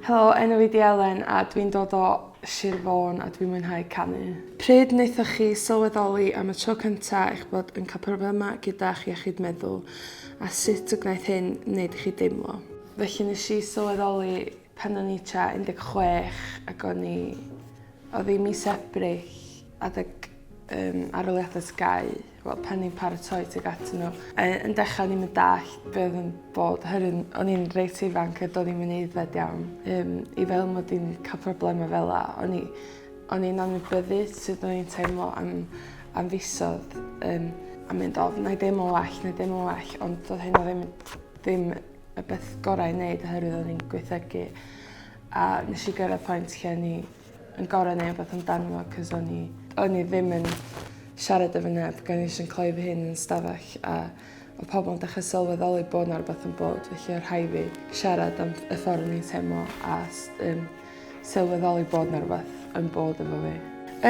Helo, enw fi 'di Elen a dwi'n dod o Sir Fôn a dwi'n mwynhau canu. Pryd wnaethoch chi sylweddoli am y tro cyntaf eich bod yn cael problemau gyda'ch iechyd meddwl a sut y gwnaeth hyn wneud i chi deimlo? Felly nes i sylweddoli Pan o'n i tua 16 ac o'n i... oedd hi mis Ebrill, adeg yym aroliadau TGAU, wel pan ni'n paratoi tuag atyn nhw, yy yn dechrau o'n i'm yn dallt be oedd yn bod oherwydd o'n i'n reit ifanc a do'n i'm yn aeddfed iawn yym i feddwl mod i'n cael problemau fel 'na. O'n i o'n i'n anwybyddu sut o'n i'n teimlo am am fisoedd yym a mynd o wna i deimlo'n well, wna i deimlo'n well ond doedd hynna ddim ddim y beth gorau i wneud oherwydd o'n i'n gweithegu a nes i gyrraedd pwynt lle o'n i yn gorau neu beth amdano fo cos o'n i, o'n i ddim yn siarad efo neb gan eisiau yn cloi fy hun yn stafell a o pobl yn dechrau sylweddoli bod yna rhywbeth yn bod felly o'r rhai fi siarad am y ffordd o'n i'n teimlo a um, sylweddoli bod yna rhywbeth yn bod efo fi.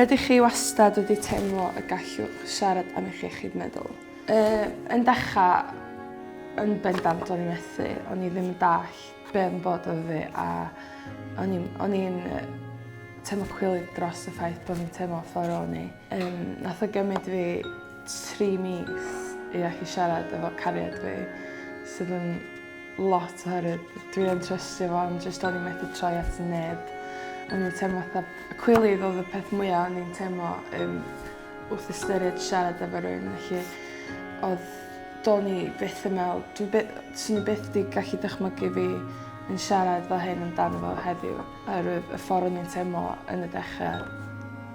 Ydych chi wastad wedi teimlo y gallwch siarad am eich iechyd meddwl? Yy, yn dechra, yn bendant o'n i methu, o'n i ddim yn dall be' oedd yn bod efo fi a o'n i'n o'n i'n yy teimlo cwilydd dros y ffaith bod fi'n teimlo ffor o'n i. Yym nath o gymryd fi tri mis i allu siarad efo cariad fi sydd yn lot oherwydd dwi yn trystio fo ond jyst o'n i methu troi at neb. O'n i'n teimlo fatha cwilydd oedd y peth mwya o'n i'n teimlo yym Wrth ystyried siarad efo rhywun felly odd... Do'n i byth yn me'wl dwi by- swn i byth 'di gallu dychmygu fi yn siarad fel hyn amdano fo heddiw oerwydd y ffor o'n i'n teimlo yn y dechre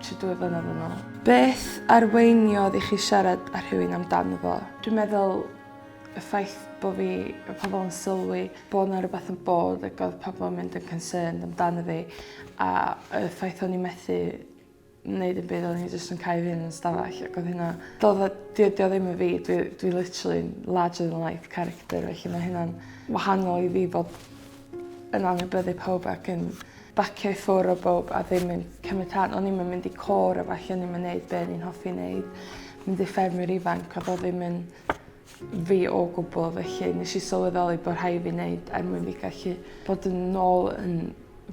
tro dwy flynadd yn ôl. Beth arweiniodd i chi siarad â rhywun amdano fo? Dwi'n meddwl y ffaith bo' fi... Bo' pobol yn sylwi bo' 'na rwbath yn bod ag odd pobol yn mynd yn concerned amdano fi a y ffaith o'n i methu neud dim byd o'n i jyst yn cau fy hun yn stafell ac oedd hynna... Do'dd o... 'Di o 'di o ddim yn fi dwi dwi literally larger than life character felly ma' hynna'n wahanol i fi bod yn anwybyddu pawb ac yn bacio i ffwr' o bowb a ddim yn cymryd rhan. O'n i'm yn mynd i côr a ballu o'n i'm yn neud be' o'n i'n hoffi neud. Mynd i ffermwyr ifanc o'dd o ddim yn fi o gwbl felly nes i sylweddoli bod rhai fi wneud er mwyn fi gallu bod yn nôl yn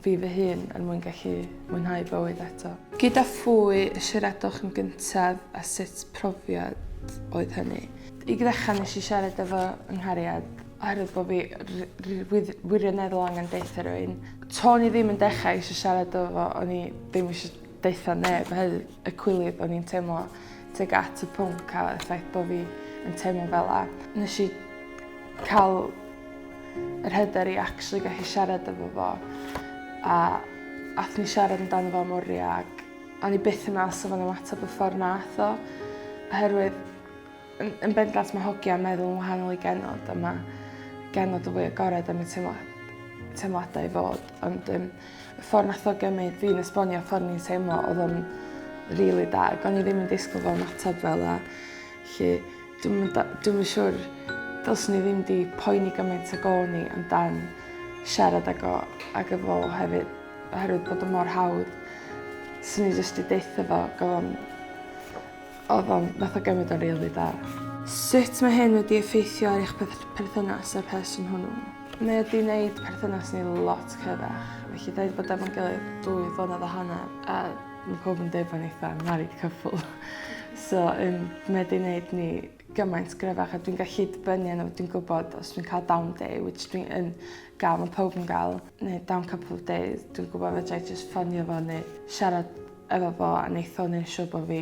fi fy hun er mwyn gallu mwynhau bywyd eto. Gyda phwy y siaradwch yn gyntaf a sut profiad oedd hynny? I ddechrau nes i siarad efo yng nghariad oherwydd bod fi wirioneddol angen deutha rhywun. To'n i ddim yn dechrau eisiau siarad efo fo o'n i ddim eisiau Daethon neb hyd y cwilydd o'n i'n teimlo teg at y pwnc a y ffaith bod fi yn teimlo fel la. Nes i cael yr hyder i actually gallu siarad efo fo a ath ni siarad amdano fo am oriau ac o'n i byth yn meddwl sa fo'n ymateb y ffordd nath o oherwydd Yn, yn bendant mae hogia yn meddwl yn wahanol i genod a mae genod yn fwy agored am y teimlad, teimladau i fod. Ond um, y ffordd nath o gymryd fi'n esbonio y ffordd ni'n teimlo oedd o'n really da. O'n i ddim yn disgwyl fel matab fel a lle dwi'n dwi yn siŵr dylswn i ddim di poeni gymaint ag o'n i amdan siarad ag o ag efo hefyd oherwydd bod o mor hawdd. Swn i jyst i deitha fo gofon Oedd o'n... Nath o gymryd o'n rili da. Sut mae hyn wedi effeithio ar eich perthynas â'r person hwnnw? Mae o 'di neud perthynas ni lot cryfach. Felly 'da ni 'di bod efo'n gilydd dwy flynedd a hanner a ma' pawb yn deud bo' ni fatha married couple so yym mae 'di neud ni gymaint gryfach a dwi'n gallu dibynnu arno fo dwi'n gwbod os dwi'n ca'l down day which dwi yn ga'l ma' pawb yn ga'l neu down couple of days dwi'n gwbo fedrai jyst ffonio fo neu siarad efo fo a neith o neud yn siŵr bo' fi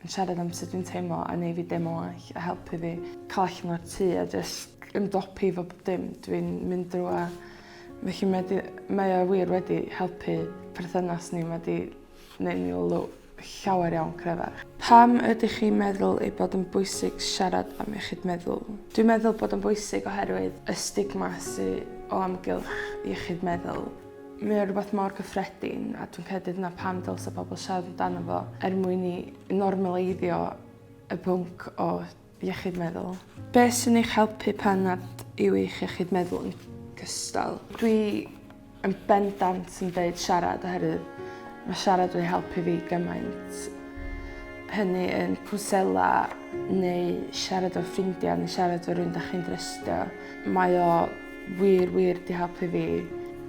yn siarad am sut dwi'n teimlo a neu' fi deimlo'n well a helpu fi ca'l allan o'r tŷ a jyst ymdopi efo pob dim dwi'n mynd drw a felly mae 'di mae o wir wedi helpu perthynas ni ma' 'di neu' ni l- l- llawer iawn cryfach. Pam ydych chi'n meddwl ei bod yn bwysig siarad am iechyd meddwl? Dwi'n meddwl bod o'n bwysig oherwydd y stigma sy o amgylch iechyd meddwl. Mae o rhywbeth mor gyffredin a dwi'n credu dyna pam dylse pobl siarad amdano fo er mwyn i normaleiddio y pwnc o iechyd meddwl. Be sy'n eich helpu pan nad yw eich iechyd meddwl yn gystal? Dwi yn bendant yn deud siarad oherwydd mae siarad wedi helpu fi gymaint. Hynny yn cwnsela neu siarad â ffrindiau neu siarad â rhywun da chi'n drystio. Mae o Wir, wir, 'di helpu fi.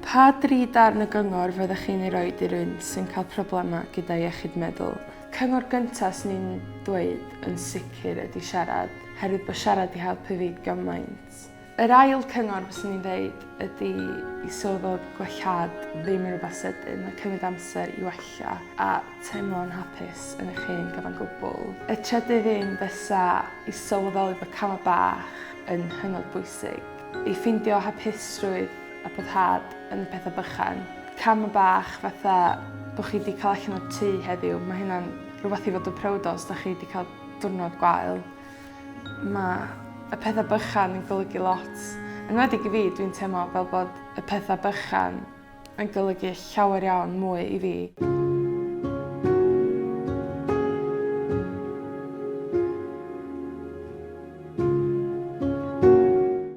Pa dri darn o gyngor fyddech chi'n ei roi i rywun sy'n cael problemau gyda iechyd meddwl? Cyngor gyntaf sy'n i'n dweud yn sicr ydy siarad, herwydd bod siarad 'di helpu fi gymaint. Yr ail cyngor fyswn i'n dweud ydy i sylw fod gwellhad ddim yn rhywbeth sydyn, mae cymryd amser i wella a teimlo'n hapus yn eich hen gyfan gwbl. Y trydydd un fysa i sylweddoli bod camau bach yn hynod bwysig. I ffeindio hapusrwydd a boddhad yn y pethau bychan. Cam bach fatha bod chi 'di cael allan o'r tŷ heddiw, mae hynna'n rhywbeth i fod yn proud o os dych chi 'di cael diwrnod gwael. Mae y pethau bychan yn golygu lot. Yn enwedig i fi, dwi'n teimlo fel bod y pethau bychan yn golygu llawer iawn mwy i fi.